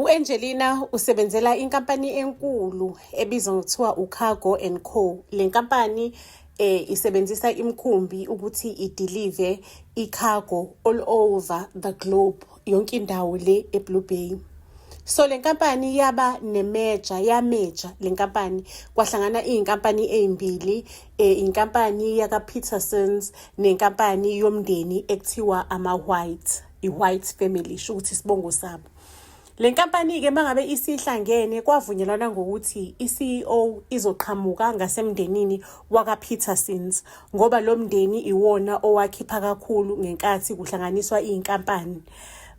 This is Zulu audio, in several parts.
U-Angelina usebenzela inkampani enkulu ebizwa ngokuthiwa uCargo and Co. Le nkampani eh isebenzisa imikhumbi ukuthi idelive icargo all over the globe yonke indawo le eBlue Bay. So le nkampani yaba nemeja yameja le nkampani kwahlangana izinkampani ezimbili eh inkampani yaka Petersons nenkampani yomndeni ekuthiwa ama White. i-white family isho ukuthi isibongo sabo le nkampani-ke uma ngabe isihlangene kwavunyelwana ngokuthi i-ceo izoqhamuka ngasemndenini wakapetersons ngoba lo mndeni iwona owakhipha kakhulu ngenkathi kuhlanganiswa iy'nkampani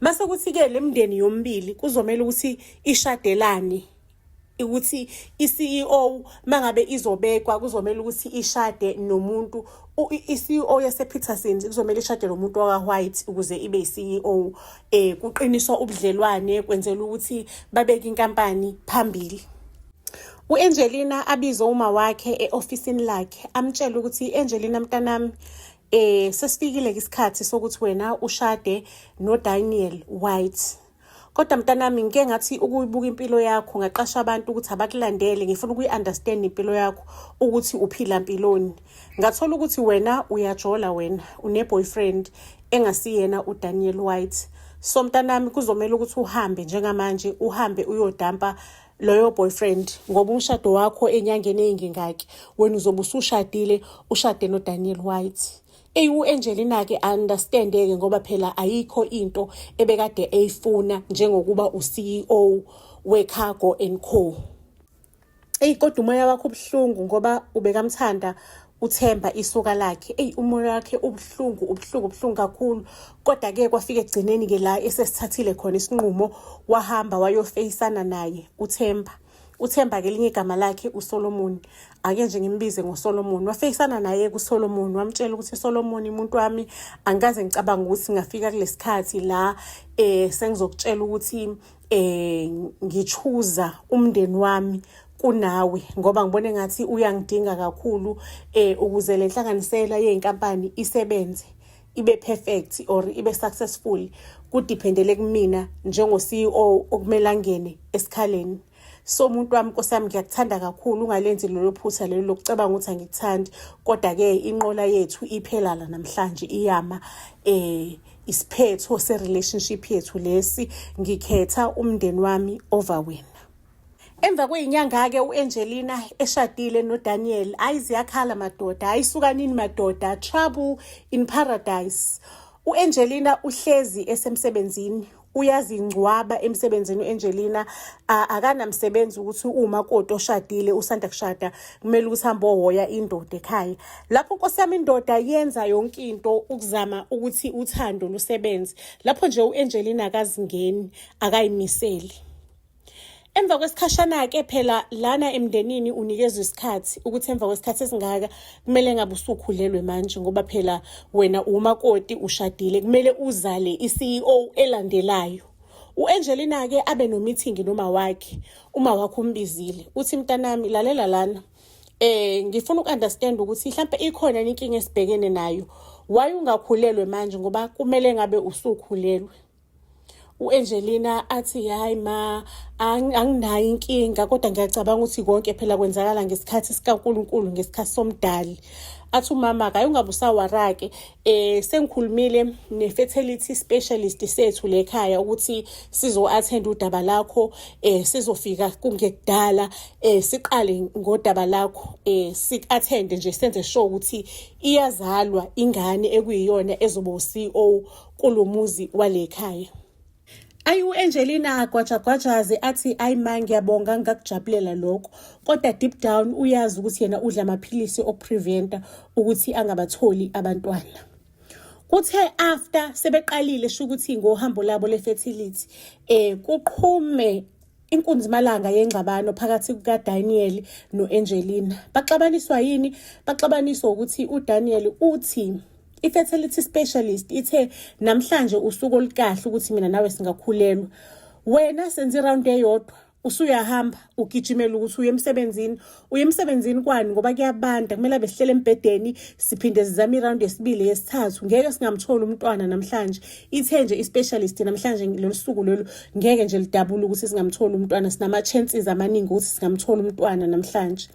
mase kuthi-ke le mndeni yomibili kuzomele ukuthi ishadelane ukuthi i-CEO mangabe izobekwa kuzomela ukuthi ishade nomuntu i-CEO yasePeterson kuzomela ishade nomuntu waka-white ukuze ibe i-CEO eh kuqiniswa ubudlelwane kwenzela ukuthi babeke inkampani phambili uAngelina abize uma wakhe eofisini lakhe amtshela ukuthi Angelina mntanami eh sesifikile isikhathi sokuthi wena ushade noDaniel White kodwa mntanami ngike ngathi ukuyibuka impilo yakho ngaqasha abantu ukuthi abakulandele ngifuna ukuyi-understand impilo yakho ukuthi uphila mpiloni ngathola ukuthi wena uyajola wena une-boyfriend engasiyena udaniel white so mntanami kuzomele ukuthi uhambe njengamanje uhambe uyodampa loyo boyfriend ngoba umshado wakho enyangeni eyingingaki wena uzobe usushadile ushade nodaniel white Ey uAngelina ke understandeke ngoba phela ayikho into ebekade eyifuna njengokuba uCEO weCargo and Co. Ey kodwa umoya wakho ubuhlungu ngoba ubekamthanda uthemba isuka lakhe eyi umoya wakhe ubuhlungu ubuhlungu ubuhlungu kakhulu kodwa ke kwafika ekugcineni ke la esesithathile khona isinqumo wahamba wayofeyisana naye uthemba uthemba kelinye igama lakhe usolomoni ake nje ngimbize ngosolomoni wafeyisana naye kusolomoni wamtshela ukuthi solomoni umuntu wami angikaze ngicabanga ukuthi ngafika kulesi khathi la um sengizokutshela ukuthi um ngichuza umndeni wami kunawe ngoba ngibona engathi uyangidinga kakhulu um ukuze le nhlanganisela yey'nkampani isebenze ibe perfect or ibe successful kudependele kumina njengo CEO okumele angene esikhaleni so umuntu wami nkosi yami ngiyakuthanda kakhulu ungalenzi lelo phutha lelo lokucabanga ukuthi angikuthandi kodwa-ke inqola yethu iphelala namhlanje iyama eh isiphetho se-relationship yethu lesi ngikhetha umndeni wami over wena Emva kweyinyanga-ke u-Angelina eshadile noDaniel, hayi ziyakhala madoda, hayi sukanini madoda, trouble in paradise. U-Angelina uhlezi esemsebenzini uyazingcwaba emsebenzini u-Angelina akanamsebenzi ukuthi uma kodwa oshadile usanda kushada kumele ukuthi hambe ohoya indoda ekhaya lapho nkosi yami indoda yenza yonke into ukuzama ukuthi uthando lusebenze lapho nje u-Angelina akazingeni akayimiseli emva kwesikhashana-ke phela lana emndenini unikezwa isikhathi ukuthi emva kwesikhathi esingaka kumele ngabe usukhulelwe manje ngoba phela wena umakoti ushadile kumele uzale i-ceo elandelayo u-angelina-ke abe nomithingi noma wakhe uma wakho umbizile uthi mntanami lalela lana eh ngifuna ukunderstand ukuthi mhlawumbe ikhona inkinga esibhekene nayo why ungakhulelwe manje ngoba kumele ngabe usukhulelwe u-angelina athi hhayi ma anginayo inkinga kodwa ngiyacabanga ukuthi konke phela kwenzakala ngesikhathi sikankulunkulu ngesikhathi somdali athi umama kaye ungabe usawarake eh sengikhulumile ne-fertility specialist sethu lekhaya ukuthi sizo-attend udaba lakho eh sizofika kungekudala eh siqale ngodaba lakho eh si-attende nje senze sure ukuthi iyazalwa ingane ekuyiyona ezoba u-CEO kulomuzi walekhaya Ayi uAngelina agwajagwajaze athi ayi ma ngiyabonga ngakujabulela lokho kodwa deep down uyazi ukuthi yena udla amaphilisi okupreventa ukuthi angabatholi abantwana. Kuthe after sebeqalile sho ukuthi ngohambo labo lefertility eh kuqhume Inkunzimalanga yengxabano phakathi kukaDaniel no-Angelina. Baxabaniswa yini? Baxabaniswa ukuthi uDaniel uthi i-fertility specialist ithe namhlanje usuku olukahle ukuthi mina nawe singakhulelwa. Wena senze iround eyodwa usuyahamba ugijimela ukuthi uye emsebenzini uye emsebenzini kwani ngoba kuyabanda kumele abe sihlele embhedeni siphinde sizame iround yesibili yesithathu ngeke singamtholi umntwana namhlanje ithe nje i-specialist namhlanje lolu suku lolu ngeke nje lidabula ukuthi singamtholi umntwana sinama-chances amaningi ukuthi singamtholi umntwana namhlanje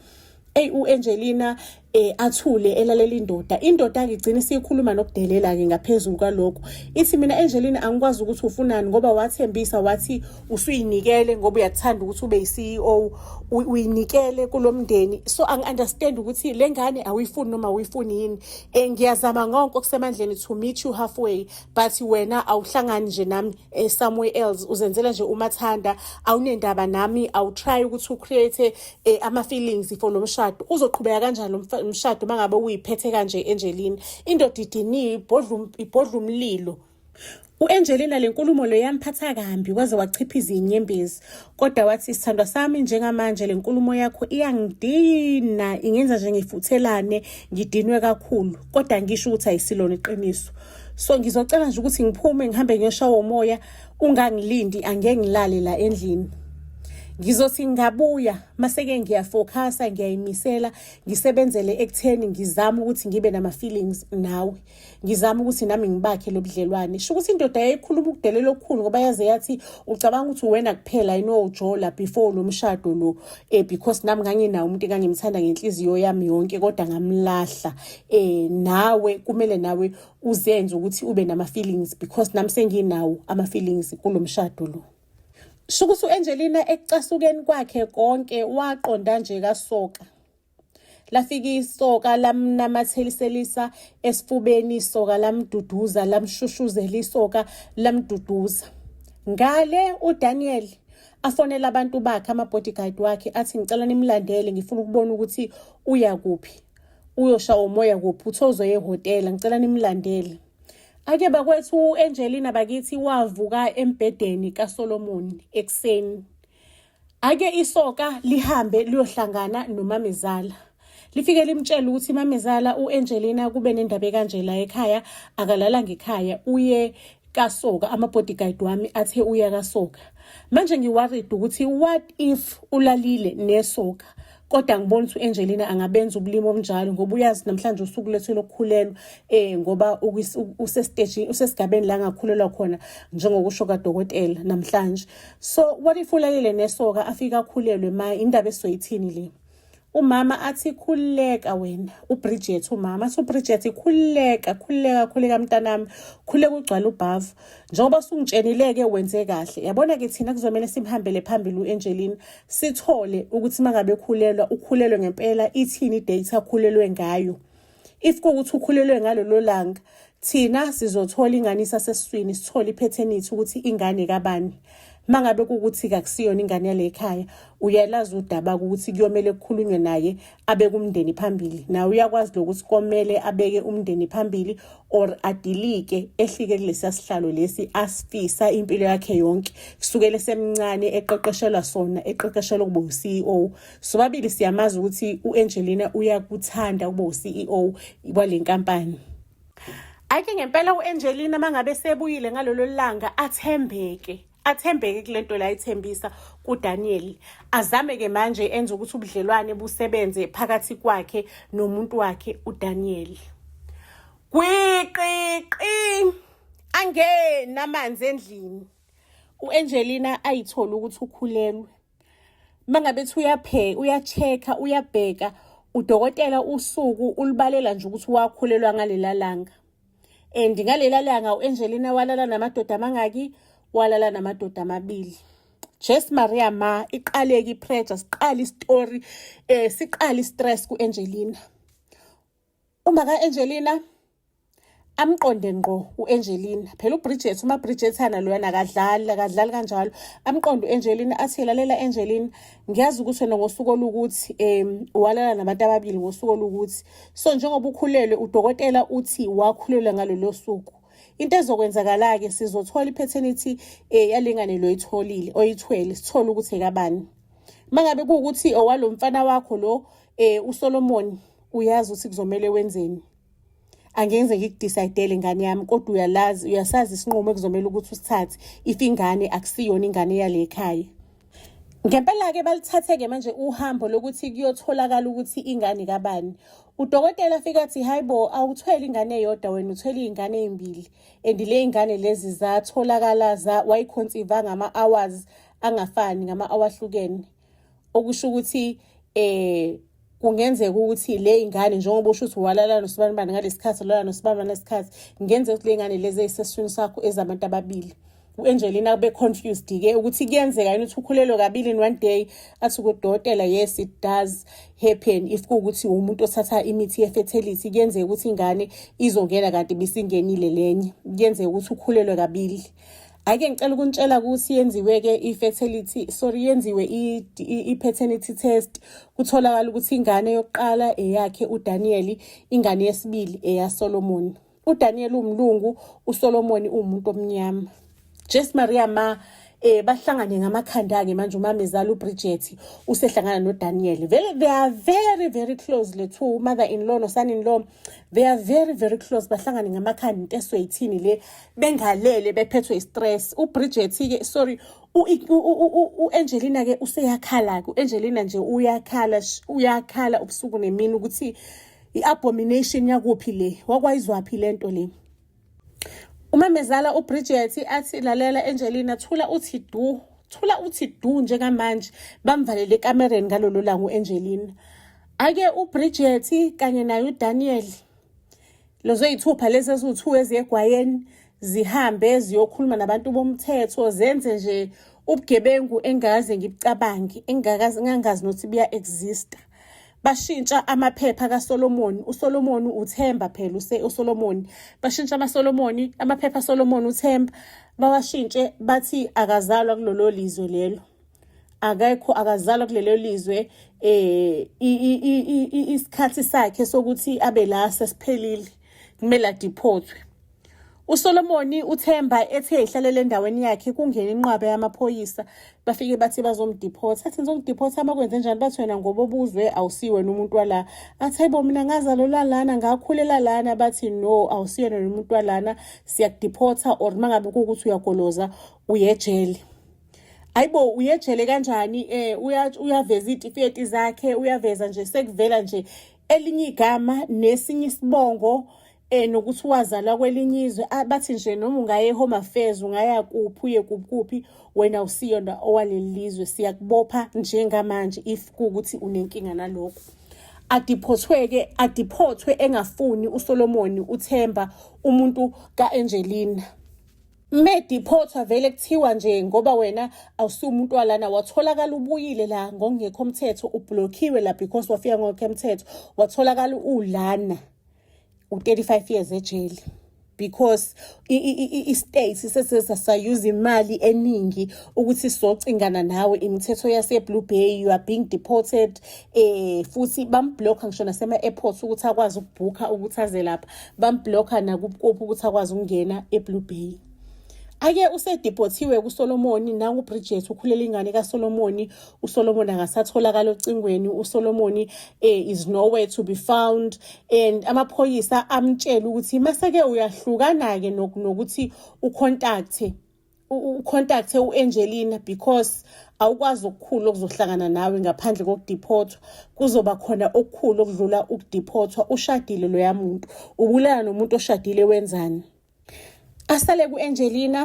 eyi u-angelina eh athule elalela indoda indoda ke igcina isikhuluma nokudelela ke ngaphezulu kwalokho ithi mina Angelina angikwazi ukuthi ufunani ngoba wathembisa wathi usuyinikele ngoba uyathanda ukuthi ube yi-CEO uyinikele kulo mndeni so angi-understand ukuthi le ngane awuyifuni noma awuyifuni yini um ngiyazama ngonke okusemandleni to meet you halfway but wena awuhlangani nje nami um somewhere else uzenzela nje umathanda awunendaba nami awutry ukuthi ucreate um ama-feelings for lo mshado uzoqhubeka kanjani lo mshado uma ngabe uyiphethe kanje enjelini indoda idiniwe ibhodla umlilo U-Angelina le nkulumo le yamphatha kambi waze wachiphiza inyembezi kodwa wathi sithandwa sami njengamanje le nkulumo yakho iyangidina ingenza nje ngifuthelane ngidinwe kakhulu kodwa ngisho ukuthi ayisilona iqiniso so ngizocela nje ukuthi ngiphume ngihambe ngiyoshawa umoya ungangilindi angeke ngilale la endlini ngizothi ngabuya maseke ngiyafokhasa ngiyayimisela ngisebenzele ekutheni ngizama ukuthi ngibe nama-feelings nawe ngizama ukuthi nami ngibakhe lo budlelwane sho ukuthi indoda yayikhuluma ukudelela okukhulu ngoba yaze yathi ucabanga ukuthi uwena kuphela yini owujola before lo mshado lo um because nami nganginawo umuntu engangimthanda ngenhliziyo yami yonke kodwa ngamlahla um nawe kumele nawe uzenze ukuthi ube nama-feelings because nami senginawo ama-feelings kulo mshado lo sho ukuthi u-angelina ekucasukeni kwakhe konke waqonda nje kasoka lafika isoka lamnamatheliselisa esifubeni isoka lamduduza lamshushuzela isoka lamduduza ngale uDaniel afonela abantu bakhe ama-bodyguard wakhe athi ngicela nimlandele ngifuna ukubona ukuthi uya kuphi uyoshawa umoya kuphi uthozo yehhotela ngicela nimlandele ake bakwethu u-angelina bakithi wavuka embhedeni kasolomoni ekuseni Ake isoka lihambe liyohlangana nomamezala. Lifike limtshela ukuthi mamezala uAngelina kube nendaba kanje la ekhaya akalala ngekhaya uye kasoka ama-bodyguard wami athe uya kasoka manje ngiworried ukuthi what if ulalile nesoka kodwa ngibona ukuthi u-angelina angabenza ubulimi obunjalo ngoba uyazi namhlanje usuku lethu lokukhulelwa um ngoba usestejini usesigabeni la ngakhulelwa khona njengokusho kadokotela namhlanje so what if ulalele nesoka afike akhulelwe ma indaba esizoyithini le umama athi khululeka wena ubridget umama athi ubridget khululeka khululeka khululeka mntanami khululeka ugcwala ubhavu njengoba sungitshenile-ke wenze kahle yabona-ke thina kuzomele simhambele phambili u-angelina sithole ukuthi mangabe khulelwa ukhulelwe ngempela ithini date akhulelwe ngayo if kuwukuthi ukhulelwe ngalolo langa thina sizothola ingane isasesiswini sithole iphethenethi ukuthi ingane kabani mangabe kukuthi kakusiyona ingane yale ekhaya uyalazi udaba ukuthi kuyomele kukhulunywe naye abeke umndeni phambili nawe uyakwazi lokuthi komele abeke umndeni phambili or adilike ehlike kulesiya sihlalo lesi asifisa impilo yakhe yonke kusukela esemncane eqeqeshelwa sona eqeqeshelwa ukuba u-CEO sobabili siyamazi ukuthi u-Angelina uyakuthanda ukuba u-CEO wale nkampani Ake ngempela u-Angelina mangabe sebuyile ngalolo langa athembeke athembeke kule nto la ithembisa kuDaniel azame ke manje enze ukuthi ubudlelwane busebenze phakathi kwakhe nomuntu wakhe uDaniel kwiqiqi angena amanzi endlini uAngelina ayithola ukuthi ukhulelwe mangabe ethi uyapheka uya-check-a uyabheka udokotela usuku ulibalela nje ukuthi wakhulelwa ngalela langa and ngalela langa u-angelina walala namadoda amangaki walala namadoda amabili jes maria ma iqaleke ipressure siqale isitori um eh, siqale istress ku-angelina uma ka-angelina amqonde ngqo u-angelina phela ubridget uma bridgethana loyana akadlali akadlali kanjalo amqonde u-angelina athi lalela angelina ngiyazi ukuthi wena ngosuku olukuthi um walala nabantu ababili ngosuku olukuthi so njengoba ukhulelwe udokotela uthi wakhulelwe ngalolo suku into ezokwenzakala-ke sizothola i-paternity um eh, yalengane loyitholile oyithwele sithole ukuthi ekabani uma ngabe kuwukuthi owalo mfana wakho lo um usolomoni uyazi ukuthi kuzomele wenzeni angenze ngikudisaydele ingane yami kodwa uyalazi uyasazi isinqumo ekuzomela ukuthi usithathe if ingane akusiyona ingane yale ekhaya ngempela-ke balithathe-ke manje uhambo lokuthi kuyotholakala ukuthi ingane kabani udokotela afike athi hayi bo awuthwele ingane eyodwa wena uthwele iy'ngane ey'mbili and le y'ngane lezi zatholakala wayikhonsivanga ama-hours angafani ngama-awahlukene okusho ukuthi eh kungenzeka ukuthi le ingane njengoba usho ukuthi walala nosibanibani ngalesi khathi walala nosibanibani ngalesi khathi kungenzeka ukuthi le ngane lezi eyiseswini sakho ezabantu ababili u-angelina kube confused-ke ukuthi kuyenzeka yini ukuthi ukhulelwe kabili in one day athi kudokotela yes it does happen if kuwukuthi umuntu othatha imithi ye-fertility kuyenzeka ukuthi ingane izongena kanti bisingenile lenye kuyenzeka ukuthi ukhulelwe kabili Ake ngicela ukunitshela ukuthi yenziwe-ke i-fertility sorry yenziwe i-paternity test kutholakala ukuthi ingane yokuqala eyakhe uDaniyeli ingane yesibili eyaSolomoni uDaniyeli umlungu uSolomoni umuntu omnyama Jess Maria ma eh bahlangane ngamakhanda ke manje umamezala uBridget usehlangana noDaniel vele they are very very close le two mother in law no son in law they are very very close bahlangane ngamakhanda into esoyithini le bengalele bephethwe istress ubridget ke sorry u-angelina ke useyakhala-ke u-angelina nje uyakhala uyakhala ubusuku nemini ukuthi i-abomination yakuphi le wakwayizwaphi le nto le umamezala ubridget athi lalela angelina thula uthi du thula uthi du njengamanje bamvalele ekamereni ngalolo langa u-angelina ake ubridget kanye naye udaniel lezo yithupha lezi eziwu-two eziye egwayeni zihambe ziyokhuluma nabantu bomthetho zenze nje ubugebengu engikaze ngibucabange engikaze ngangazi nokuthi buya-exista bashintsha amaphepha kaSolomoni uSolomoni uThemba phela use uSolomoni bashintsha amaSolomoni amaphepha kaSolomoni uThemba bawashintshe bathi akazalwa kulolo lizwe lelo akekho akazalwa kulelo lizwe eh isikhathi sakhe sokuthi abe la sesiphelile kumele adiphothwe uSolomoni uThemba ethe ihlalele endaweni yakhe kungena inqwaba yamaphoyisa bafike bathi bazomdiphotha athi ngizomdiphotha amakwenze njani bathi wena ngoba obuzwe awusiwena umuntu wala athi hayibo mina ngazalelwa lana ngakhulela lana bathi no awusiyena umuntu walana siyakudiphotha or mangabe kuwukuthi uyagoloza uyejele ayibo uyejele kanjani eh uyaveza itifiyeti zakhe uyaveza nje sekuvela nje elinye igama nesinye isibongo eh nokuthi wazalwa kwelinye izwe ah, bathi nje noma ungaye home affairs ungaya kuphi uye kuphi wena usiyona owaleli lizwe siyakubopha njengamanje if kukuthi unenkinga nalokho adiphothweke adiphothwe engafuni uSolomoni uThemba umuntu kaAngelina Mediphothwa vele kuthiwa nje ngoba wena awusumuntu walana watholakala ubuyile la ngokungekho mthetho ublockiwe la because wafika ngokhe mthetho watholakala ulana u-35 years ejele because i-state sesesasayuza imali eningi ukuthi socingana nawe imithetho yase-blue bay you are being deported eh futhi bamblock ngisho nasema-airport ukuthi akwazi ukubhukha ukuthi aze lapha bambhlokha nakubukuphi ukuthi akwazi ukungena eblue bay ake usedibhothiwe kusolomoni nangubridget ukhulela ingane kasolomoni usolomoni akasatholakala ocingweni usolomoni um eh, is nowhere to be found and amaphoyisa amtshela ukuthi maseke uyahlukana-ke nokuthi ukhontakthe ucontacte u-angelina because awukwazi okukhulu okuzohlangana nawe ngaphandle kokudiphothwa kuzoba khona okukhulu okudlula ukudiphothwa ushadile loya muntu ubulala nomuntu oshadile wenzani asale ku-angelina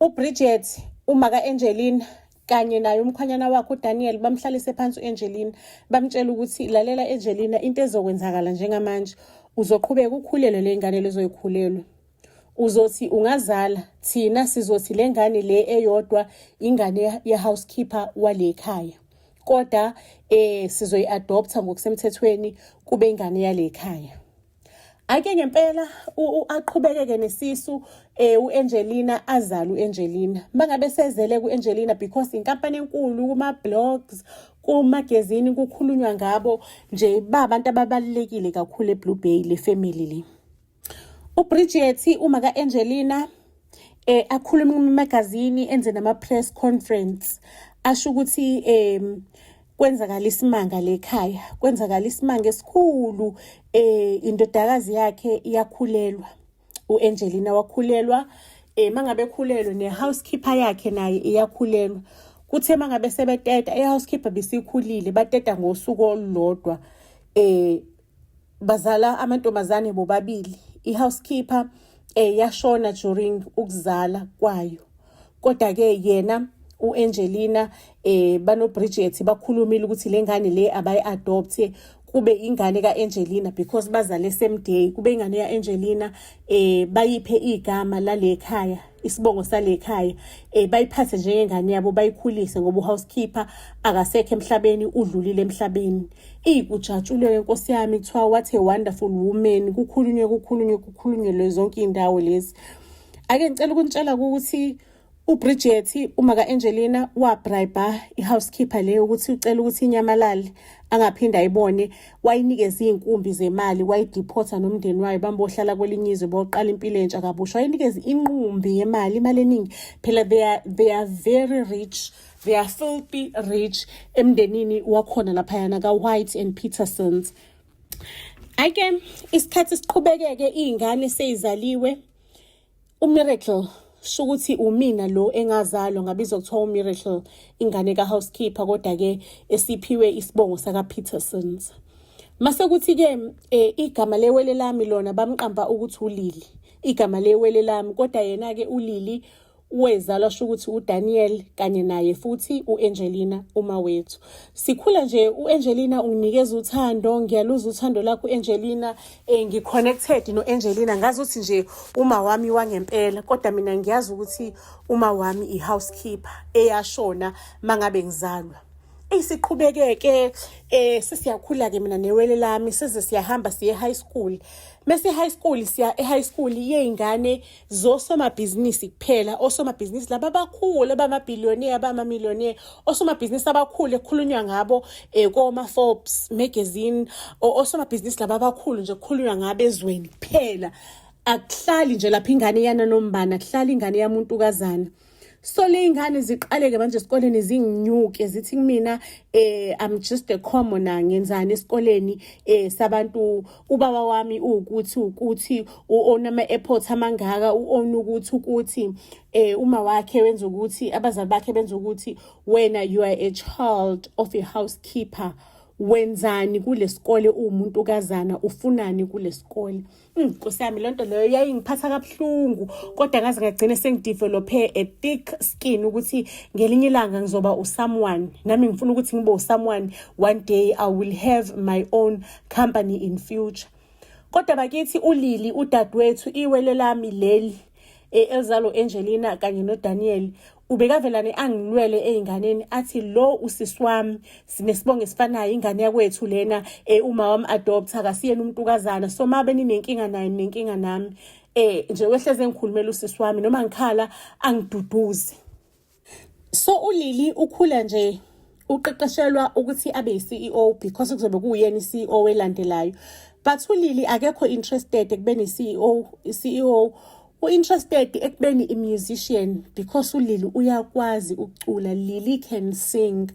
ubridget uma ka-angelina kanye naye umkhwanyana wakhe uDaniel bamhlalise phansi uAngelina bamtshela ukuthi lalela Angelina into ezokwenzakala njengamanje uzoqhubeka ukhulelwe lengane lezoyikhulelwa uzothi ungazala thina sizothi le ngane le eyodwa ingane ye-housekeeper wale khaya koda eh sizoyi-adoptha ngokusemthethweni kube ingane yale khaya ake ngempela aqhubekeke nesisu eh uAngelina azala uAngelina mangabe sezele kuAngelina because inkampani enkulu kuma blogs kumagazini kukhulunywa ngabo nje babantu ababalekile kakhulu eBlue Bay le family le uBridget uma ka-Angelina eh akhuluma kumagazini enze nama press conference asho ukuthi em kwenzakala isimanga lekhaya kwenzakala isimanga esikhulu eh indodakazi yakhe iyakhulelwa uAngelina wakhulelwa eh mangabe ekhulelwe ne housekeeper yakhe naye iyakhulelwa kuthe mangabe sebeteta i housekeeper bisikhulile bateta ngosuku olulodwa eh bazala amantombazane bobabili i-housekeeper eh yashona during ukuzala kwayo kodwa ke yena uAngelina eh banoBridget bakhulumile ukuthi lengane le abayiadopt kube ingane kaAngelina because bazale same day kube ingane yaAngelina eh bayiphe igama lalekhaya isibongo salekhaya eh bayiphathe njengengane yabo bayikhulise ngoba uhousekeeper akasekho emhlabeni udlulile emhlabeni iyikujatshulwe inkosi yami kuthiwa what a wonderful woman kukhulunywe kukhulunywe kukhulunyelwe zonke indawo lezi ake ngicela ukunitshela ukuthi uBridget uma kaAngelina wabribe ihousekeeper leyo ukuthi ucela ukuthi inyamalale angaphinde ayibone wayinikeza iy'nkumbi zemali wayidiphotha nomndeni wayo bambohlala kwelinye izwe boqala impilo entsha kabusha wayinikeza inqumbi yemali imali eningi phela they are, they are very rich they are filthy rich emndenini wakhona laphayana ka-white and petersons ayike isikhathi siqhubekeke iy'ngane seyizaliwe umiracle shukuthi umina lo engazalwa ngabizwa kuthiwa umiracle ingane kahousekeeper kodwa-ke esiphiwe isibongo sakapetersons mase kuthi-ke um eh, igama lewele lami lona bamqamba ukuthi ulili igama lewele lami kodwa yena-ke ulili wezalwa sho ukuthi uDaniel kanye naye futhi uAngelina uma wethu sikhula nje uAngelina unginikeza uthando ngiyaluza uthando lakho uAngelina Eh ngi connected no Angelina ngazi ukuthi nje uma wami wangempela kodwa mina ngiyazi ukuthi uma wami i housekeeper eyashona mangabe ngizalwa isiqhubekeke eh sesiyakhula ke mina newele lami size siyahamba siye high school mese high school siya e high school yeyingane zosomabhizinisi kuphela osomabhizinisi laba abakhulu abamabhiliyoniya abamamiliyoniya osomabhizinisi abakhulu ekukhulunywa ngabo um eh, koma-forbes magazine osomabhizinisi laba abakhulu nje kukhulunywa ngabo ezweni kuphela akuhlali nje lapha ingane yananombana kuhlala ingane yamuntukazana sole iy'ngane ziqaleke manje esikoleni zinginyuke zithi kumina eh i'm just a commoner ngenzani esikoleni eh sabantu ubaba wami ukuthi ukuthi uona ama airport amangaka uona ukuthi ukuthi eh uma wakhe wenza ukuthi abazali bakhe benza ukuthi wena you are a child of a housekeeper wenzani kulesikole umuntu kazana ufunani kulesikole Nkosi yami lento leyo yayingiphatha kabuhlungu kodwa ngaze ngagcina sengidevelophe a thick skin ukuthi ngelinye ilanga ngizoba usomeone nami ngifuna ukuthi ngibe usomeone one day I will have my own company in future kodwa bakithi ulili udadewethu iwele lami leli e, elizalo Angelina kanye noDaniel ubekavelane angilwele ezinganeni athi lo usisi wami sinesibongo esifanayo ingane yakwethu lena eh uma wami adopt akasiyena umuntu kazana so mabe ninenkinga naye ninenkinga nami eh nje wehleze ngikhulumela usisi wami noma ngikhala angiduduzi so ulili ukhula nje uqeqeshelwa ukuthi abe yi-CEO because kuzobe kuwuyena i-CEO elandelayo but ulili akekho interested ekubeni i-CEO i-CEO u-interested ekubeni i-musician because ulili uyakwazi ukucula lili can sing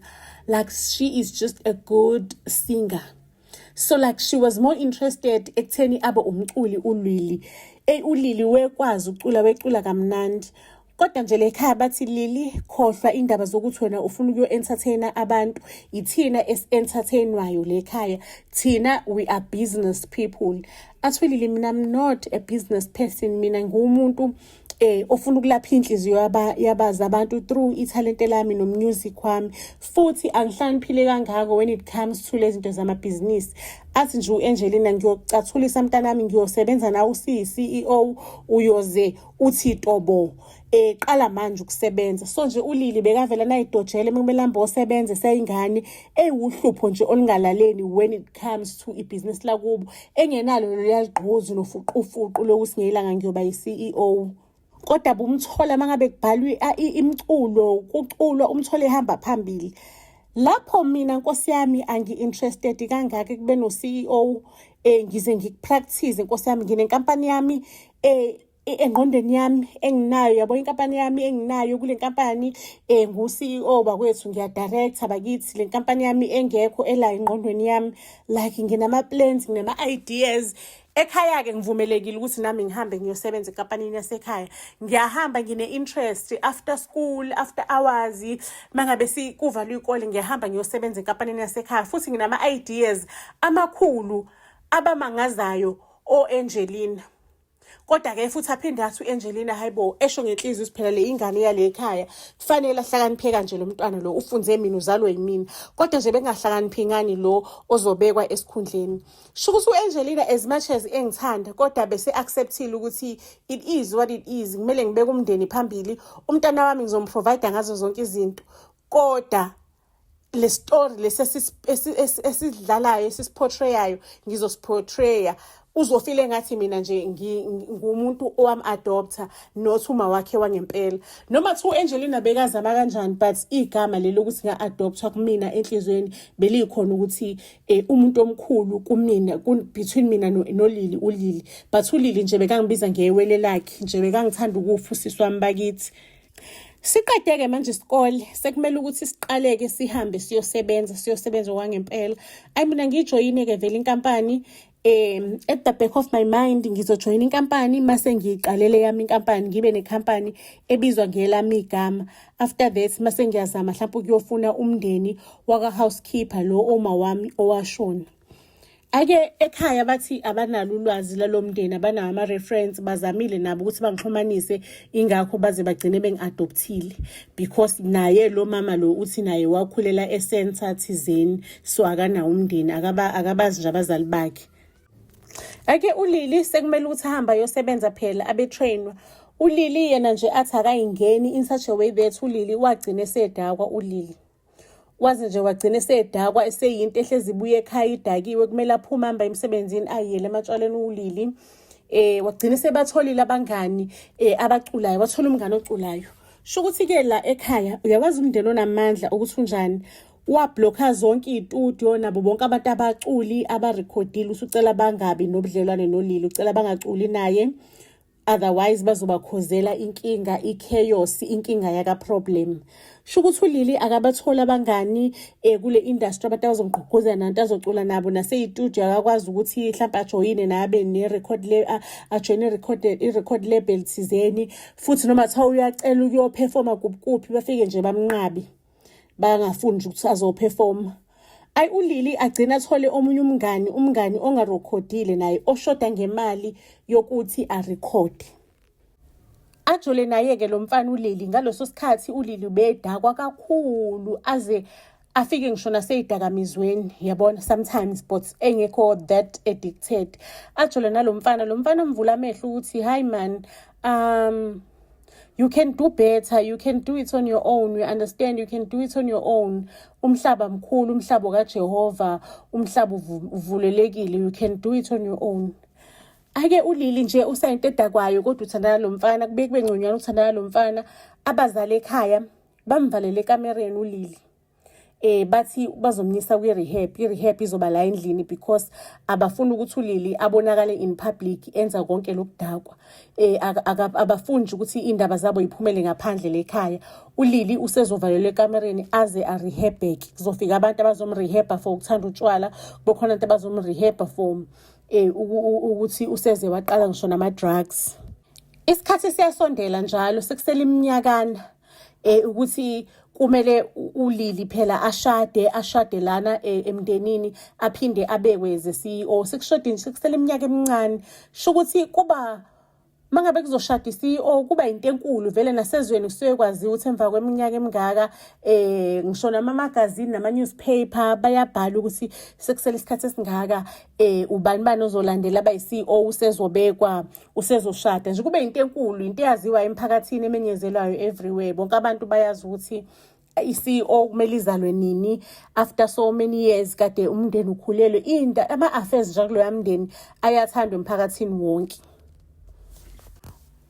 like she is just a good singer so like she was more interested ekutheni abe umculi ulwili eyi ulili wekwazi ucula wecula kamnandi kodwa nje lekhaya bathi lili khohlwa indaba zokuthi wena ufuna ukuyo-entertaina abantu yithina esi-entertainwayo lekhaya thina we are business people athwelile mina i'm not a business person mina nguwumuntu eh ofuna ukulapha inhliziyo yaba yabaza abantu through ithalente lami no music wami futhi angihlaniphile kangako when it comes to lezinto zama business athi nje uAngelina ngiyocathulisa mntanami ngiyosebenza na usi CEO uyoze uthi tobo eh qala manje ukusebenza so nje ulili bekavela nayidojele kumele ambe osebenze seyingane ewuhlupho nje olungalaleni when it comes to ibusiness lakubo engenalo loluyalugquzu lofuqufuqu lokusingelanga ngiyoba yi-ceo kodwa bumthola uma ngabe kubhalwe imiculo kuculwa umthole ehamba phambili lapho mina nkosi yami angi-interested kangaka kube no-ceo um eh, ngize ngikupractise nkosi yami nginenkampani yami um engqondweni yami enginayo yabo inkampani yami enginayo kule nkampani um ngu-ceo bakwethu ngiyadirectha bakithi le nkampani yami engekho elayo engqondweni yami like nginama-plans nginama-ideas ekhaya-ke ngivumelekile ukuthi nami ngihambe ngiyosebenza enkampanini yasekhaya ngiyahamba ngine-interest after school after hours uma ngabe kuvalwe ikole ngiyahamba ngiyosebenza enkampanini yasekhaya futhi nginama-ideas amakhulu abamangazayo o-angelina kodwa ke futhi aphinde athi u-angelina hayibo esho ngenhliziyo siphela le ingane yale ekhaya kufanele ahlakaniphe kanje lo mntwana lo ufunze mina uzalwe yimina kodwa nje bengahlakaniphi ngani lo ozobekwa esikhundleni sho ukuthi u-angelina as much as engithanda kodwa bese-acceptile ukuthi it is what it is kumele ngibeke umndeni phambili umntana wami ngizomprovide ngazo zonke izinto kodwa le story lesi esidlalayo esisiportrayayo ngizosiportraya uzofile ngathi mina nje ngumuntu owam adopter not uma wakhe wangempela noma kuthiwa u-angelina bekazama kanjani but igama leli lokuthi nga-adoptha kumina enhliziyweni beliyikhona ukuthi um umuntu omkhulu kumina between mina nolili ulili but ulili nje bekangibiza ngewele lakhe nje bekangithanda ukufa usisi wami bakithi Siqedeke manje isikole sekumele ukuthi siqaleke sihambe siyosebenza siyosebenza kwangempela. Ayi mina ngijoyine ke vele inkampani um at the back of my mind ngizojoyina inkampani mase ngiyiqalele yami inkampani ngibe nekhampani ebizwa ngelami igama after that mase ngiyazama mhlawumpe ukuyofuna umndeni waka-housekeeper lo oma wami owashona ake ekhaya bathi abanalo ulwazi lalomndeni abanawo ama reference bazamile nabo ukuthi bangixhumanise ingakho baze bagcine bengiadoptile because naye lo mama lo uthi naye wakhulela esensa thizeni so akanawo umndeni akaba akabazi nje abazali bakhe ake ulili sekumele ukuthi ahamba yosebenza phela abe trainwa ulili yena nje athi akayingeni in such a way that ulili wagcina sedakwa ulili waze nje wagcina esedakwa eseyinto ehlezi ibuye ekhaya idakiwe kumele aphume hamba emsebenzini ayiyele ematshwaleni uwulili eh wagcina sebatholile abangani eh abaculayo wathola umngane oculayo sho ukuthi ke la ekhaya uyakwazi umndeni onamandla ukuthi unjani wabhlokha zonke iy'tudio nabo bonke abantu abaculi abarekhodile usucela bangabi nobudlelwane nolili ucela bangaculi naye otherwise bazobakhozela inkinga ichaos inkinga yaka problem sho ukuthi ulili akabatholi abangani eh, kule industry abantu abazongqugquzela nanto azocula nabo naseyitudio akakwazi ukuthi mhlawumpe ajoyine nabe ne-record ajoyine i-record label thizeni futhi noma kuthiwa uyacela ukuyophefoma kuphi bafike nje bamnqabi bangafuni nje ukuthi azoperforma ayi ulili agcina athole omunye umngani umngani ongarekhodile naye oshoda ngemali yokuthi arekhode ajole naye-ke lo mfana ulili ngaleso sikhathi ulili ubedakwa kakhulu aze afike ngisho naseyidakamizweni yabona sometimes but engekho that addicted ajole nalo mfana lo mfana mvula amehlo ukuthi hayi man um you can do better you can do it on your own we understand you can do it on your own umhlaba mkhulu umhlaba kajehova umhlaba uvulelekile you can do it on your own ake ulili nje usayinto edakwayo kodwa uthandana lo mfana kube kube ngconywana uthandana lo mfana abazali ekhaya bamvalele ekamereni ulili eh bathi bazomnyisa kwi rehab i rehab izoba la endlini because abafuni ukuthi ulili abonakale in public enza konke lokudakwa eh abafuni ukuthi indaba zabo iphumele ngaphandle lekhaya ulili usezovalelwa ekamereni aze a rehab back kuzofika abantu abazomrehab for ukuthanda utshwala bokhona abantu abazomrehab for eh ukuthi useze waqala ngisho nama drugs isikhathi siyasondela njalo sekusela iminyakana eh ukuthi kumele ulili phela ashade ashade lana eh, emndenini aphinde abekwe ze CEO sekushode nje kusele iminyaka emincane sho ukuthi kuba mangabe kuzoshada i-CEO kuba into enkulu vele nasezweni kusuke kwaziwa ukuthi emva kweminyaka emingaka eh ngisho namamagazini nama-newspaper bayabhala ukuthi sekusele isikhathi esingaka eh ubani bani ozolandela abayi-CEO usezobekwa usezoshada nje kube into enkulu into eyaziwa emphakathini emenyezelwayo everywhere bonke abantu bayazi ukuthi i-CEO kumele izalwe nini after so many years kade umndeni ukhulelwe into ama-affairs nje kuloya mndeni ayathandwa emphakathini wonke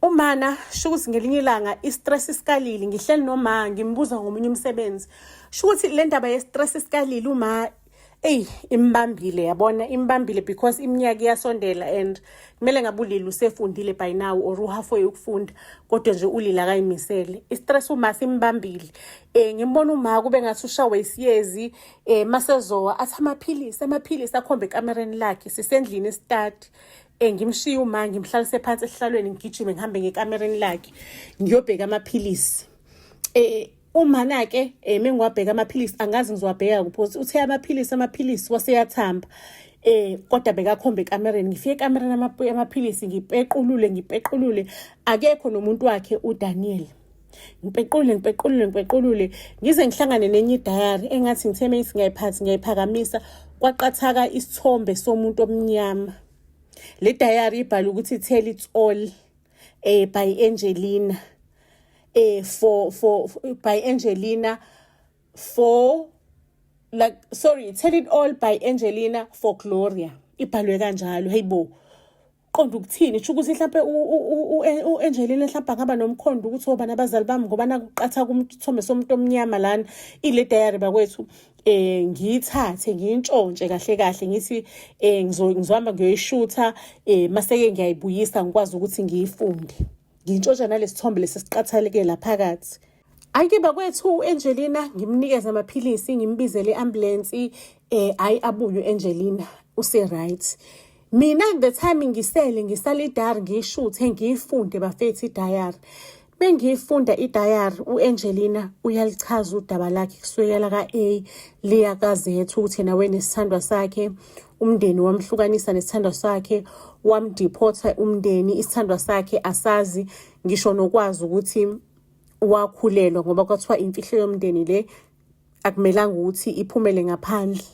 umana sho ukuthi ngelinye ilanga i-stress isikalile ngihleli noma ngimbuza ngomunye umsebenzi sho ukuthi le ndaba ye-stress isikalile uma eyi imbambile yabona imbambile because iminyaka iyasondela and kumele ngabe ulile usefundile by now or uhalfway ukufunda kodwa nje ulile akayimisele istress uma simbambile um ngimbona uma kube ngathi ushawe isiyezi um masezowa athi amaphilisi amaphilisi akhombe ekamereni lakhe sisendlini esitati um ngimshiye uma ngimhlalise phansi esihlalweni ngigijime ngihambe ngekamereni lakhe ngiyobheka amaphilisi um Umana-ke um eh, mengiwabheka amaphilisi angazi ngizowabheka kuphi ukuthi uthe amaphilisi amaphilisi waseyathamba eh kodwa bekakhombe ekamereni ngifike ekamereni amaphilisi ngipequlule ngipequlule akekho nomuntu wakhe uDaniel ngipequlule ngipequlule ngipequlule ngize ngihlangane nenye idayari engathi ngithe mase ngiyayiphathi ngiyayiphakamisa kwaqathaka isithombe somuntu omnyama le dayari ibhala ukuthi tell it all eh by Angelina eh for for by Angelina for like sorry tell it all by Angelina for Gloria ibhalwe kanjalo heyibo qonda ukuthini sho ukuthi mhlawumbe u-angelina mhlawumbe angaba nomkhondo ukuthi obani abazali bami ngoba nakuqatha kumthombe somuntu omnyama lana ile diary bakwethu eh ngiyithathe ngiyintshontshe kahle kahle ngithi eh ngizohamba ngiyoyishutha eh maseke ngiyayibuyisa ngikwazi ukuthi ngiyifunde ngintshontsha nalesithombe lesisiqathaleke laphakathi Ayike bakwethu u-Angelina ngimnikeze amaphilisi ngimbizele i-ambulensi eh ayi abuye u-Angelina use-right. Mina the time ngisele ngisale idari ngiyishuthe ngiyifunde bafethu idayari. Bengiyifunda idayari u-Angelina uyalichaza udaba lakhe kusukela ka-A liya ka-Z ukuthi yena wenesithandwa sakhe umndeni wamhlukanisa nesithandwa sakhe wamdiphotha umndeni isithandwa sakhe asazi ngisho nokwazi ukuthi wakhulelwa ngoba kwathiwa imfihlo yomndeni le akumelanga ukuthi iphumele ngaphandle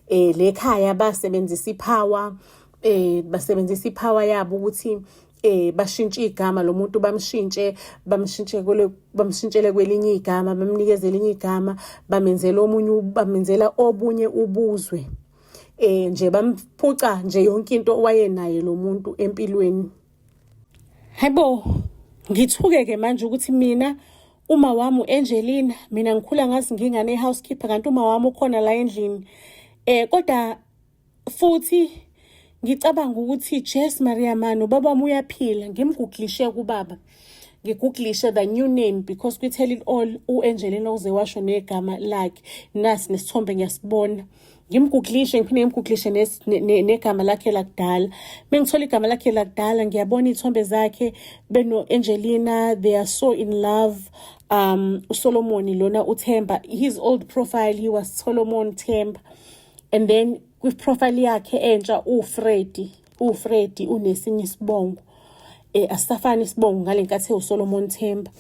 eh lekhaya basebenzisa ipower eh basebenzisa ipower yabo ukuthi eh bashintshe igama lomuntu bamshintshe bamshintshe kule bamshintshele kwelinye igama bamnikeze elinye igama bamenzela omunye bamenzela obunye ubuzwe eh nje bamphuca nje yonke into owayenaye lo muntu empilweni Hebo ngithuke ke manje ukuthi mina uma wami uAngelina mina ngikhula ngazi ngingane housekeeper kanti uma wami ukhona la endlini eh kodwa futhi ngicabanga ukuthi Jess Maria Mano baba uyaphila ngimguglishe kubaba ngiguglishe the new name because kwi-tell it all u-angelina uze washo negama lakhe nasi nesithombe ngiyasibona ngimguglishe ngiphinde ngimguglishe negama lakhe lakudala mengithola igama lakhe lakudala ngiyabona iy'thombe zakhe beno-angelina they are so in love um usolomoni lona uthemba his old profile he was solomon themba and then kwi-profile yakhe entsha uwufredi uFredi unesinye isibongo eh asisafani isibongo ngalenkathi ewuSolomon Themba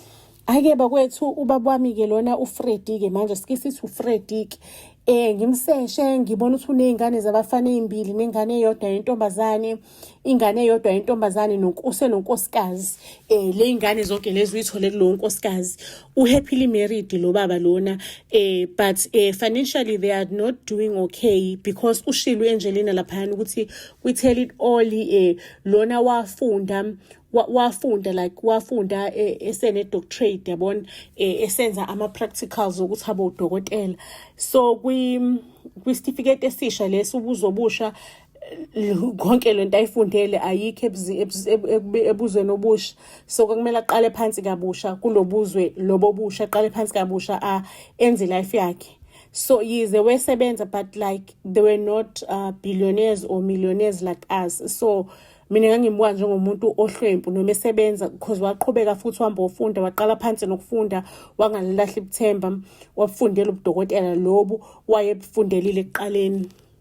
ake bakwethu ubaba wami ke lona uFredi ke manje sikisithi uFredi ke eh ngimseshe ngibona ukuthi unezingane zabafana ezimbili nengane eyodwa yentombazane ingane eyodwa yentombazane nokuse nonkosikazi eh leyingane zonke lezi uyithole kulowo nkosikazi u happily married lo baba lona eh but eh financially they are not doing okay because ushilo enjelena laphana ukuthi we tell it all eh lona wafunda wafunda like wafunda eh, esene doctorate yabona eh, esenza ama practicals ukuthi abe udokotela so kwi kwisitifiketi esisha lesi ubuzobusha konke le nto ayifundele ayikho ebuzweni obusha so kwakumele aqale phansi kabusha kulobuzwe lobo busha aqale phansi kabusha a enze life yakhe so yize wesebenza but like they were not uh, billionaires or millionaires like us so mina ngangimbuka njengomuntu ohlwempu noma esebenza because waqhubeka futhi uhamba ofunda waqala phansi nokufunda wangalilahla ibuthemba wabufundela ubudokotela lobu wayebufundelile ekuqaleni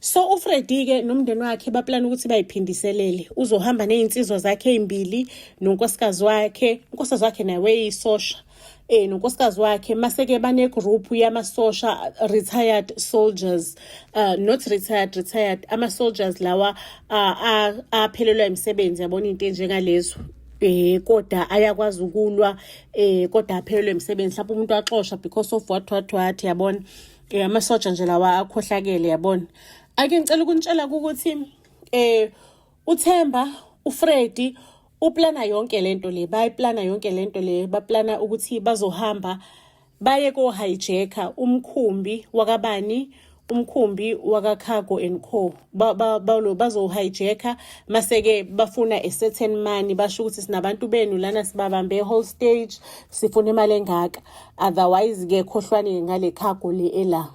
so ufredi-ke nomndeni wakhe baplana ukuthi bayiphindiselele uzohamba ney'nsizwa zakhe ey'mbili nonkosikazi wakhe unkosikazi wakhe naye weyisosha eh nonkosikazi wakhe maseke bane group yamasosha retired soldiers uh, not retired retired ama soldiers lawa uh, aphelelwa imisebenzi yabona into enjengalezo eh kodwa ayakwazi ukulwa eh kodwa aphelelwe imisebenzi mhlawumbe umuntu axosha because of what what what yabona Eh amasoja nje lawa akhohlakele yabona. Ake ngicela ukunitshela ukuthi eh uThemba uFredi uplana yonke lento le bayiplana yonke lento le baplana ukuthi bazohamba baye ko hijacker umkhumbi wakabani umkhumbi wakacargo and co balo bazohijacker maseke bafuna a certain money basho ukuthi sinabantu benu lana sibabambe whole stage sifuna imali engaka otherwise ke khohlwane ngale cargo le ela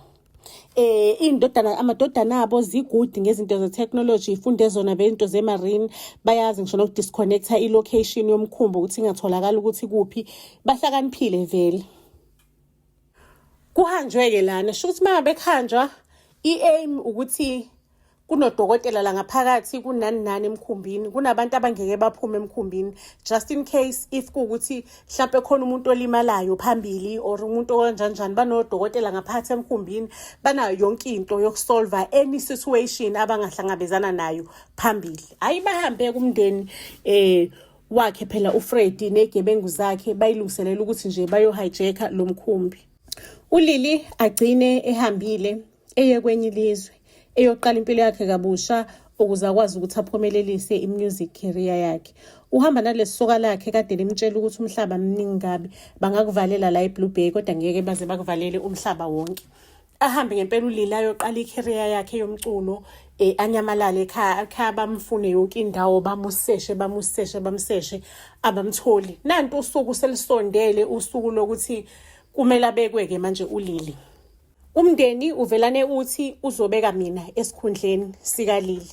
eh indodana amadodana abo zigudi ngezinto ze technology ifunde zona bento ze marine bayazi ngisho noku disconnecta i location yomkhumbo ukuthi ingatholakala ukuthi kuphi bahlakaniphile vele kuhanjwe ke lana sho ukuthi mangabe kuhanjwa iaim ukuthi kunodokotela la ngaphakathi kunani nani emkhumbini kunabantu abangeke baphume emkhumbini just in case if kuwukuthi mhlawumpe khona umuntu olimalayo phambili or umuntu okanjanjani banodokotela ngaphakathi emkhumbini banayo yonke into yokusolva any situation abangahlangabezana nayo phambili hhayi bahambe kumndeni um wakhe phela ufredi negebengu zakhe bayilungiselela ukuthi nje bayohijacka lo mkhumbi ulili agcine ehambile eye kwenye ilizwe eyoqala impilo yakhe kabusha ukuze akwazi ukuthi aphumelelise i-music career yakhe uhamba nalesi soka lakhe kade limtshela ukuthi umhlaba mningi kabi bangakuvalela la eblue bay kodwa ngeke baze bakuvalele umhlaba wonke ahambe ngempela ulile ayoqala i-career yakhe yomculo eh anyamalale ekhaya ekhaya bamfune yonke indawo bamuseshe bamuseshe bamseshe abamtholi nanti usuku selisondele usuku lokuthi kumele abekweke manje ulili Umndeni uvelane uthi uzobeka mina esikhundleni sikalili.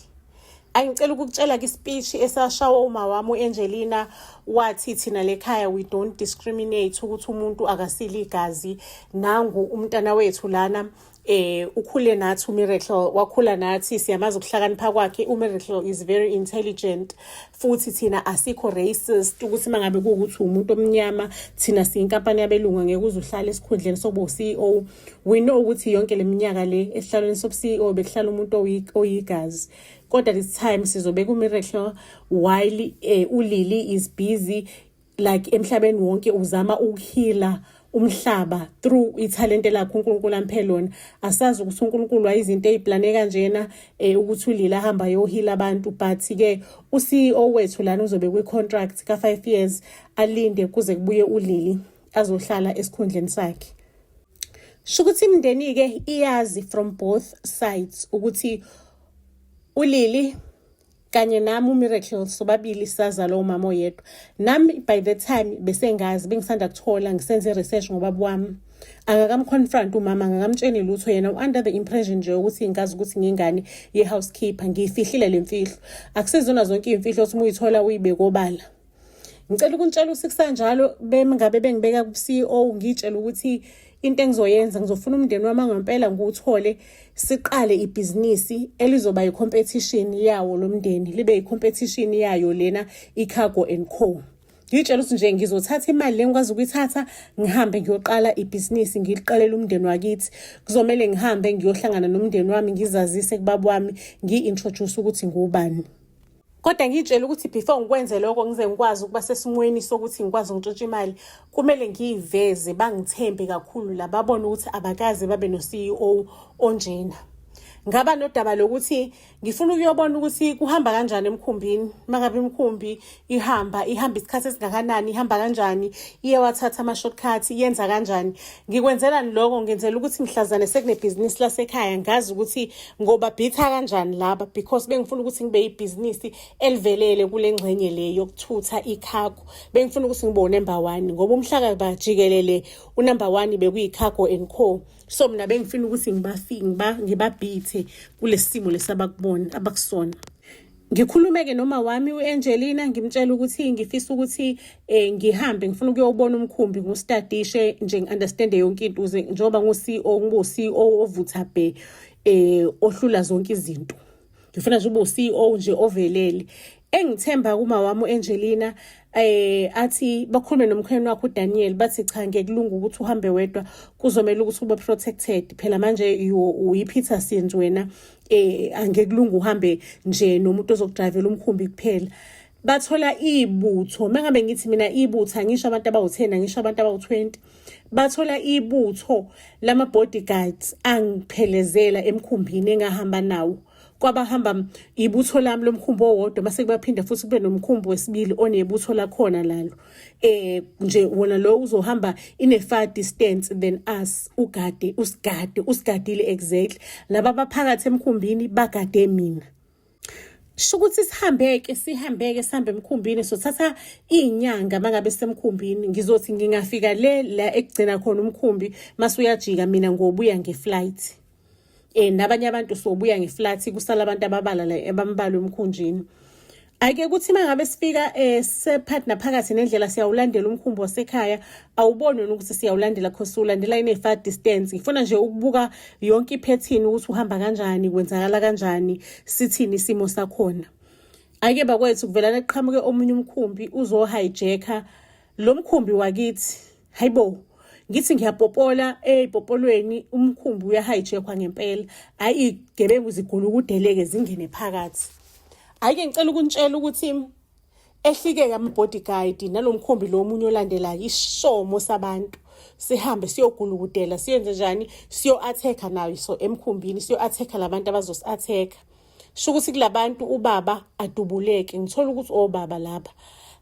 Angicela ukukutshela kisipeech esashawa uma wami uAngelina wathi thina lekhaya we don't discriminate ukuthi umuntu akasile igazi nangu umntana wethu lana eh ukhule nathi uMiracle wakhula nathi siyamazi ukuhlakanipha kwakhe uMiracle is very intelligent futhi thina asikho racist ukuthi uma ngabe kuwukuthi umuntu omnyama thina siyinkampani yabelungu ngeke uze uhlale esikhundleni sokuba u-ceo we know ukuthi yonke le minyaka le esihlalweni sobu-ceo bekuhlala umuntu oyigazi kodwa this time sizobe ku-miracle while um ulili is busy like emhlabeni wonke uzama ukuhila umhlaba through ithalente lakho uNkulunkulu amphe lona asazi ukuthi uNkulunkulu wayizinto eziplane kanjena eh ukuthi ulila hamba yohila abantu but ke u CEO wethu lana uzobe kwi contract ka 5 years alinde kuze kubuye ulili azohlala esikhundleni sakhe shukuthi imndeni ke iyazi from both sides ukuthi ulili kanye nami umiracle sobabili sazalwa umama oyedwa nami by the time besengazi bengisanda kuthola ngisenze i-research ngobaba wami angakamconfront umama angakamtsheni lutho yena u-under the impression nje ukuthi ngazi ukuthi ngingane ye-housekeeper ngiyifihlile le mfihlo akusezona zonke iy'mfihlo ukuthi uma uyithola uyibekobala ngicela ukuntshela usikusanjalo bengabe bengibeka ku-ceo ngiyitshela ukuthi into engizoyenza ngizofuna umndeni wami angempela ngiwuthole siqale ibhizinisi elizoba yi-competition yawo lo mndeni libe yi-competition yayo lena i-cargo and co ngitshela ukuthi nje ngizothatha imali le ngikwazi ukuyithatha ngihambe ngiyoqala ibhizinisi ngiliqalele umndeni wakithi kuzomele ngihambe ngiyohlangana nomndeni wami ngizazise kubaba wami ngiyi-introduce ukuthi ngubani kodwa ngiyitshela ukuthi before ngikwenze lokho ngize ngikwazi ukuba sesimweni sokuthi ngikwazi ngitshintshe imali kumele ngiyiveze bangithembe kakhulu la babone ukuthi abakaze babe no-ceo onjena ngaba nodaba lokuthi ngifuna ukuyobona ukuthi kuhamba kanjani emkhumbini mangabe imkhumbi ihamba ihamba isikhathi esingakanani ihamba kanjani iyewathatha ama-shortcut yenza kanjani Ngikwenzelani lokho ngenzela ukuthi mhlazane sekunebhizinisi lasekhaya ngazi ukuthi ngoba bhitha kanjani laba because bengifuna ukuthi ngibe ibhizinisi elivelele kule ngxenye le yokuthutha ikhago bengifuna ukuthi ngibe unumber one ngoba umhlaka bajikelele unumber one bekuyikhago and co so mina bengifuna ukuthi ngibafiki ngibabhithe kulesimo lesabakubona abakusona ngikhulumeke nomawami u-angelina ngimtshela ukuthi ngifisa ukuthi um ngihambe ngifuna ukuyowubona umkhumbi ngustadishe nje ngi-understande yonke into uze njengoba ngu-c e o ngibo-c e o ovutha bhe um ohlula zonke izinto ngifuna nje ube-c e o nje ovelele engithemba kuma wami uAngelina eh athi bakhulume nomkhweni wakho uDaniel bathi cha ngekulunga ukuthi uhambe wedwa kuzomela ukuthi ube protected phela manje uyiPeter Sinzi wena eh angeke kulunga uhambe nje nomuntu ozokudrivela umkhumbi kuphela bathola ibutho mengabe ngithi mina ibutho angisho abantu abawu-10 angisho abantu abawu-20 bathola ibutho lama-bodyguards angiphelezela emkhumbini engahamba nawo kwabahamba ibutho lami lomkhumbi owodwa mase kubaphinde futhi kube nomkhumbi wesibili onebutho lakhona lalo eh nje wona lo uzohamba ine far distance than us ugade usigade usigadile exactly laba baphakathi emkhumbini bagade mina shukuthi sihambeke sihambeke sihambe emkhumbini sothatha izinyanga mangabe semkhumbini ngizothi ngingafika le la ekugcina khona umkhumbi masuyajika mina ngobuya ngeflight eh nabanye abantu sobuya ngeflat kusala abantu ababala la ebambalwa emkhunjini ayike ukuthi mangabe sifika eh separtner phakathi nendlela siyawulandela umkhumbi wasekhaya awuboni wena ukuthi siyawulandela cause ulandela ine far distance ngifuna nje ukubuka yonke iphethini ukuthi uhamba kanjani kwenzakala kanjani sithini isimo sakhona ayike bakwethu kuvelana kuqhamuke omunye umkhumbi uzo hijacker lo mkhumbi wakithi hayibo ngithi ngiyapopola ey'popolweni eh, umkhumbi uyahayijekhwa ngempela hhayi iy'gebengu zigula ukudeleke zingene phakathi hhayi-ke ngicela ukunitshela ukuthi ehlike-ke ama-bodyguide nalo mkhumbi lo omunye olandelayo isomo sabantu sihambe siyogulukudela siyenze njani siyo-athekha nayo so emkhumbini siyo-athekha la bantu abazosi-athekha sho ukuthi kulabantu ubaba adubuleke ngithola ukuthi obaba oh, laba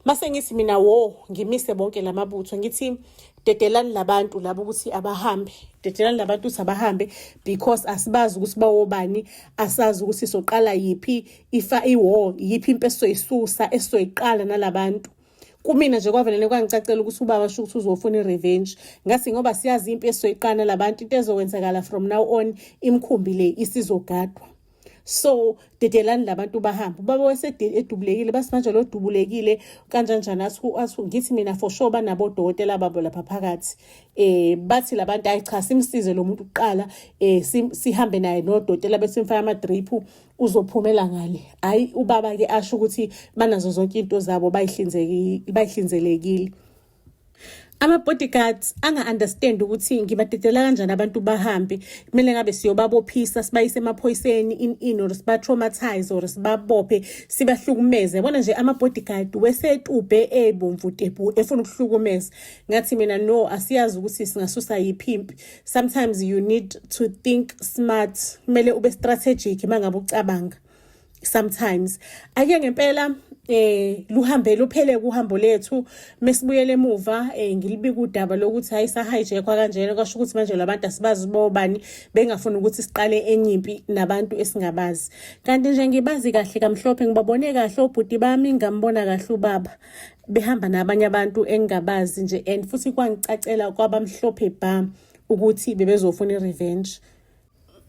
mase ngithi mina wo ngimise bonke lamabutho ngithi dedelani labantu labo ukuthi abahambe dedelani labantu ukuthi abahambe because asibazi ukuthi bawobani asazi ukuthi soqala yiphi ifa iwo yiphi impeso isusa esoyiqala nalabantu kumina nje kwavelele kwangicacela ukuthi ubaba sho ukuthi uzofuna i-revenge ngasi ngoba siyazi impi esoyiqana labantu into ezokwenzakala from now on imkhumbi le isizogadwa so dedelani labantu bahambe ubaba wasedubulekile basimanje lo dubulekile kanjanjani asu ngithi mina for sure banabodokotela babo lapha phakathi eh bathi labantu ayi cha simsize lo muntu kuqala eh sihambe naye nodokotela besimfaka ama drip uzophumela ngale hayi ubaba ke asho ukuthi banazo zonke into zabo bayihlinzekile bayihlinzelekile ama bodyguards anga understand ukuthi ngibadedela kanjani abantu bahambe kumele ngabe siyobabophisa sibayise emaphoyiseni in in or siba traumatize or sibabophe sibahlukumeze yabona nje ama bodyguard wesetube ebomvu tebu efuna ukuhlukumeza ngathi mina no asiyazi ukuthi singasusa yiphi impi sometimes you need to think smart kumele ube strategic uma ngabe ucabanga sometimes ake ngempela eh luhambe luphele kuhambo lethu mesibuyele emuva eh ngilibika udaba lokuthi hayi sa hijack kanjena kwasho ukuthi manje labantu asibazi bobani bengafuni ukuthi siqale enyimpi nabantu esingabazi kanti nje ngibazi kahle kamhlophe ngibabone kahle obhuti bami ngambona kahle ubaba behamba nabanye abantu engingabazi nje and futhi kwangicacela kwabamhlophe bha ukuthi bebezofuna i-revenge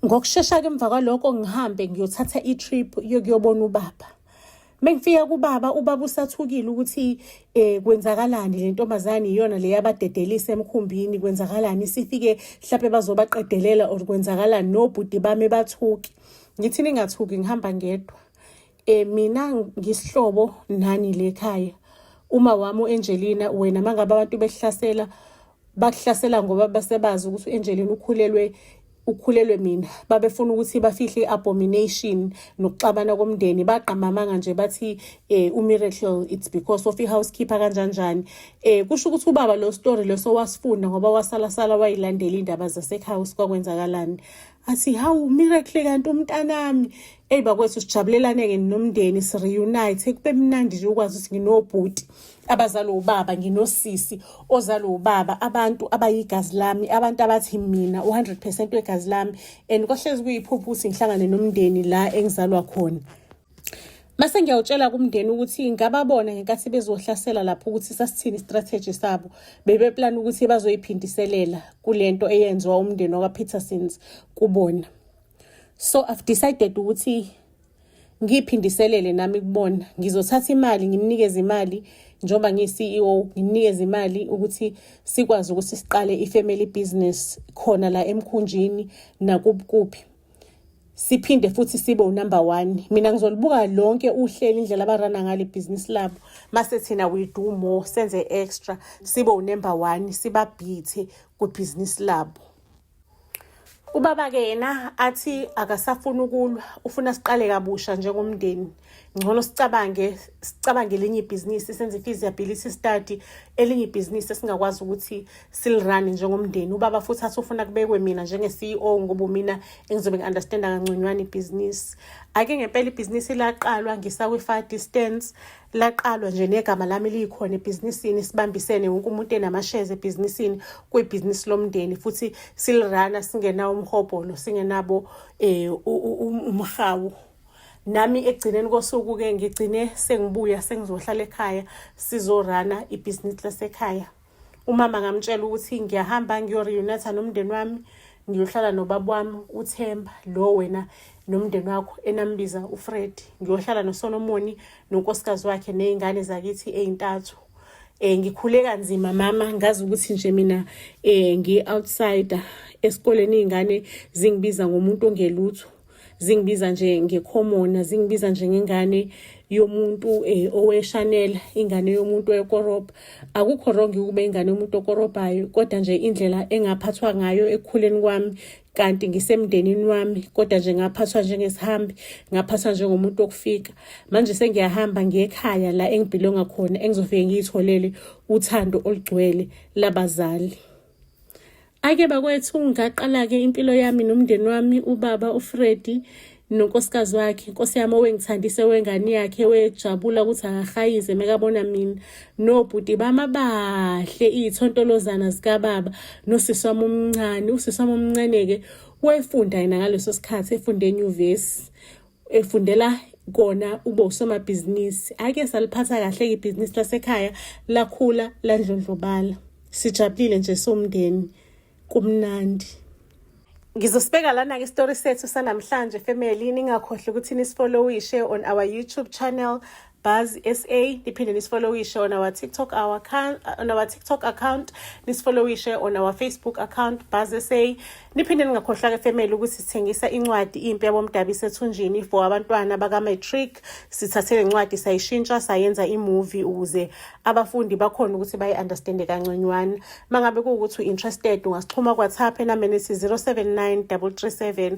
ngokushesha-ke emva kwaloko ngihambe ngiyothatha i-trip yokuyobona ubaba mengifika kubaba ubaba usathukile ukuthi eh kwenzakalani le ntombazane iyona le yabadedelisa emkhumbini kwenzakalani sifike mhlape bazobaqedelela or kwenzakalani nobhuti bami bathuki ngithi ningathuki ngihamba ngedwa E, mina ngisihlobo nani lekhaya uma wami u-angelina wena uma ngabe abantu behlasela bakuhlasela ngoba basebazi ukuthi u-angelina ukhulelwe ukhulelwe mina babefuna ukuthi bafihle i-abomination nokuxabana komndeni bagqamamanga nje bathi eh umiracle it's because of ihousekeeper kanjanjani eh kusho ukuthi ubaba lo story leso wasifunda ngoba wasala sala wayilandela indaba zasehouse kwakwenzakalani athi hawu miracle kanti umntanami eyi bakwethu sijabulelane-ke nomndeni si-reunite kube mnandi nje ukwazi ukuthi nginobhuti abazalwe ubaba nginosisi ozalwe ubaba abantu abayigazi lami abantu abathi mina u-hundred percent wegazi lami and kwahlezi kuyiphupho ukuthi ngihlangane nomndeni la engizalwa khona mase ngiyawutshela kumndeni ukuthi ngababona ngenkathi bezohlasela lapho ukuthi sasithini istrategy sabo bebeplana ukuthi bazoyiphindiselela kule nto eyenziwa umndeni wakwapetersons kubona so i've decided ukuthi ngiyiphindiselele nami kubona ngizothatha imali ngimnikeze imali njengoba ngiyi-ceo ngimnikeze imali ukuthi sikwazi ukuthi siqale i-family business khona la emkhunjini nakuphi siphinde futhi sibe unumber one mina ngizolibuka lonke uhleli indlela abarana ngale bhizinisi labo mase thina we do more senze extra sibe unumber one sibabhithe kwibhizinisi labo Ubaba-ke yena athi akasafuni ukulwa, ufuna siqale kabusha njengomndeni. Ngcono sicabange sicabange elinye ibhizinisi senze i-feasibility study, elinye ibhizinisi esingakwazi ukuthi silirane njengomndeni. Ubaba futhi athi ufuna kubekwe mina njenge-CEO ngoba umina engizobe ngi-understanda kangconywana ibhizinisi. Ake ngempela ibhizinisi laqalwa ngisakwi-fire distance laqalwa nje negama lami liyikhona ebhizinisini sibambisene wonke umuntu enamashezi ebhizinisini kwibhizinisi lomndeni futhi silirana singenawo umhobholo singenabo um umhawu nami ekugcineni kosuku-ke ngigcine sengibuya sengizohlala ekhaya sizorana ibhizinisi lasekhaya umama ngamtshela ukuthi ngiyahamba ngiyoreunata nomndeni wami ngiyohlala nobaba wami uthemba lo wena nomndeni wakho enambiza ufred ngiyohlala nosolomoni nonkosikazi wakhe ney'ngane zakithi ey'ntathu eh ngikhule kanzima mama ngazi ukuthi nje mina eh ngi outsider esikoleni izingane zingibiza ngomuntu ongelutho zingibiza nje ngekhomona zingibiza njengengane yomuntu eh, oweshanela ingane yomuntu wekorobha akukho wrong ukube ingane yomuntu okorobhayo kodwa nje indlela engaphathwa ngayo ekukhuleni kwami kanti ngisemndenini wami kodwa nje ngaphathwa njengesihambi ngaphathwa njengomuntu okufika manje sengiyahamba ngiye ekhaya la engibhilonga khona engizofike ngiyitholele uthando olugcwele labazali Ake bakwethu ngaqala-ke impilo yami nomndeni wami ubaba uFredi nonkosikazi wakhe nkosi yami owengithandise wengane yakhe wejabula ukuthi akahayize mekabona mina nobhuti bami abahle iy'thontolozana zikababa nosisi wami omncane usisi wami omncane-ke wayefunda yena ngaleso sikhathi efunde enyuvesi efundela kona ube usomabhizinisi ake saliphatha kahle ibhizinisi lasekhaya lakhula landlondlobala sijabulile nje somndeni kumnandi Ngizosibeka lana-ke isitori sethu sanamhlanje family ningakhohlwa ukuthi nisfollowishe on our youtube channel Buzz SA niphinde nisifollowishe on our TikTok our account uh, on our TikTok account nisifollowishe on our Facebook account Buzz SA niphinde ningakhohlwa ke family ukuthi sithengisa incwadi impi yabomdabi sethunjini for abantwana baka matric sithathe lencwadi sayishintsha sayenza imovie ukuze abafundi bakhona ukuthi bayi understand kanconywana mangabe kuwukuthi interested ungasixhuma kwa WhatsApp enambeni 079337